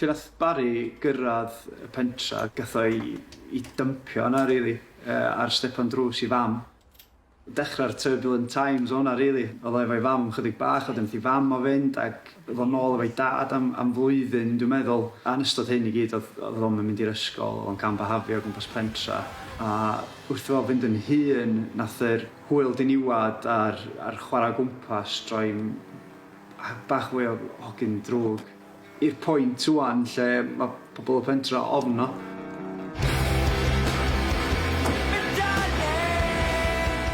Lle nath Barry gyrradd y pentra gath o i i dympio yna rili yy ar stepan drws i fam. Dechra'r turbulent times o hwnna rili, o'dd o efo'i fam chydig bach a wedyn nath i fam o fynd ac o'dd o nôl efo'i dad am am flwyddyn dwi'n meddwl a yn ystod hyn i gyd o'dd o'dd o'm yn mynd i'r ysgol o'dd o'n cam-byhafio o gwmpas pentra a wrth i fo fynd yn hŷn nath yr Hwyl diniwad ar ar chwara gwmpas droi bach fwy o hogyn drwg i'r point ŵan lle ma' pobol y pentra ofno.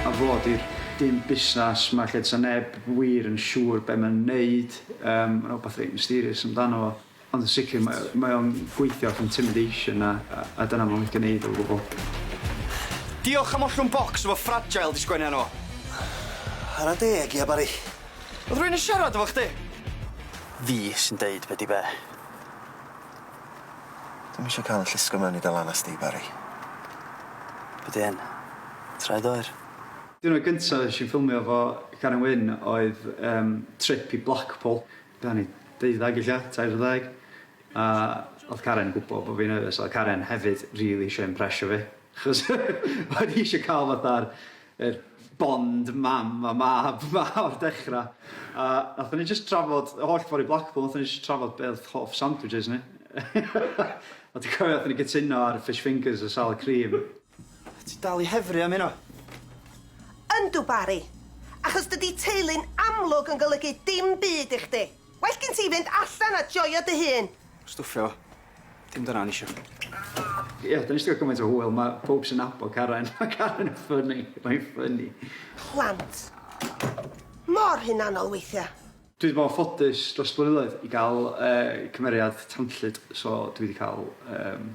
A fo di'r dyn busnas 'ma lle 'sa neb wir yn siŵr be' ma'n neud yym ma' 'na wbath reit mysterious amdano fo. Ond yn sicr mae o mae o'n gweithio off intimidation a a a dyna ma' wedi neud o gwbwl. Diolch am ollwng bocs efo fragile 'di sgwennu arno fo. Chwara deg ia Bari. Odd rywun yn siarad efo chdi? Fi sy'n deud be di be. Dwi'm isio ca'l y llusgo mewn i dy lanast di Bari. Be di hyn? Traed oer? Diwrnod gynta nesh i ffilmio efo Karen Wyn oedd yym trip i Blackpool. Gawn ni deuddag ella? Tair deg? A odd Karen yn gwbo bo' fi'n nerfus a odd Karen hefyd rili isio impresio fi achos o'n i isio ca'l fatha'r yr bond mam a mab 'ma o'r dechra a nathon ni jyst trafod y holl ffor i Blackpool nathon ni jyst trafod be' odd hoff sandwiches ni. A dwi cofio nathon ni gytuno ar fish fingers a salad cream. Ti dal i hefru am hynna? Yndw, Barry. Achos dydi teulu'n amlwg yn golygu dim byd i chdi. Well gin ti fynd allan a joio dy hun. Stwffio fo. Dim dyna o'n i isio. Ie, 'dan ni 'di ga'l gymaint o hwyl, ma' powb sy'n nabod Karen, ma' Karen yn ffyni, mae'n ffyni. Plant. Mor hunanol weithia'. Dwi 'di bod yn ffodus dros y blynyddoedd i ga'l yy cymeriad tanllyd, so dwi 'di ca'l yym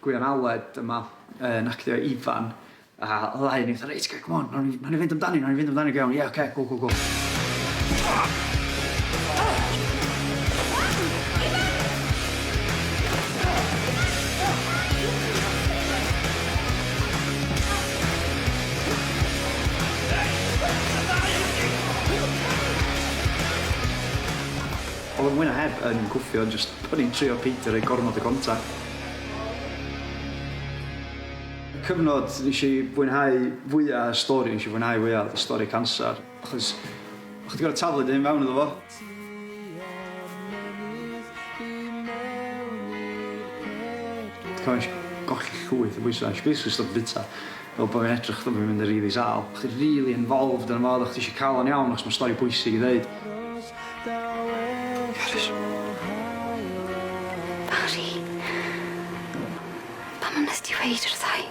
Gwion Aled yma yn actio Ifan a ddau o ni fatha reit oce c'm on nawn ni nawn ni fynd amdani nawn ni fynd amdani go iawn ie oce go go go. O'dd o mwy na heb yn gwffio jyst o'n i'n trio peidio roi gormod o gontact. cyfnod nes i fwynhau fwya y stori nes i fwynhau fwya o'dd y stori canser achos o' chdi gor'o' taflu dy hun mewn iddo fo. Colli llwyth o bwysa, nesh i basically stopio bita. Fel bo' fi'n edrych fel bo' fi'n mynd yn rili sâl. Bo' chdi rili involved yno fo fel bo' chdi isio ca'l o'n iawn achos ma' stori bwysig i ddeud. Carys. Bari. Pam a nest ti weud wrthai?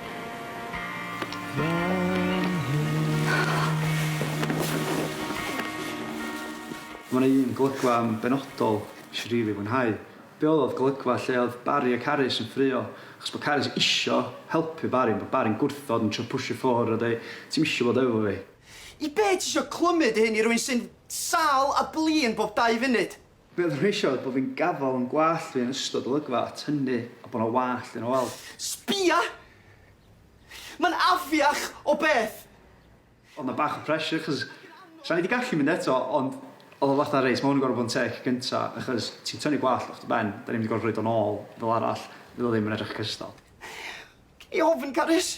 Ma' 'na un golygfa yn benodol nesh i rili fwynhau. Be oedd oedd golygfa lle oedd Barry a Carys yn ffrio achos bod Carys isio helpu Barry ond bod Barry'n gwrthod yn trio pwsio ffwr a deu ti'm isio bod efo fi. I be tisio clymu dy hun i rywun sy'n sâl a blin bob dau funud? Be oedden nhw isio oedd bod fi'n gafael yn gwallt fi yn ystod olygfa a tynnu a bod 'na wallt yna wel. Sbia! Mae'n afiach o beth! O'dd 'na bach o pressure 'chos sain 'di gallu mynd eto ond o'dd o fatha reit ma' 'wn yn gor'o' bod yn tec gynta achos ti'n tynnu gwallt off dy ben 'dan ni'm 'di gor'o' rhoid o nôl fel arall fydd o ddim yn edrych cystal. Gei di ofn Carys.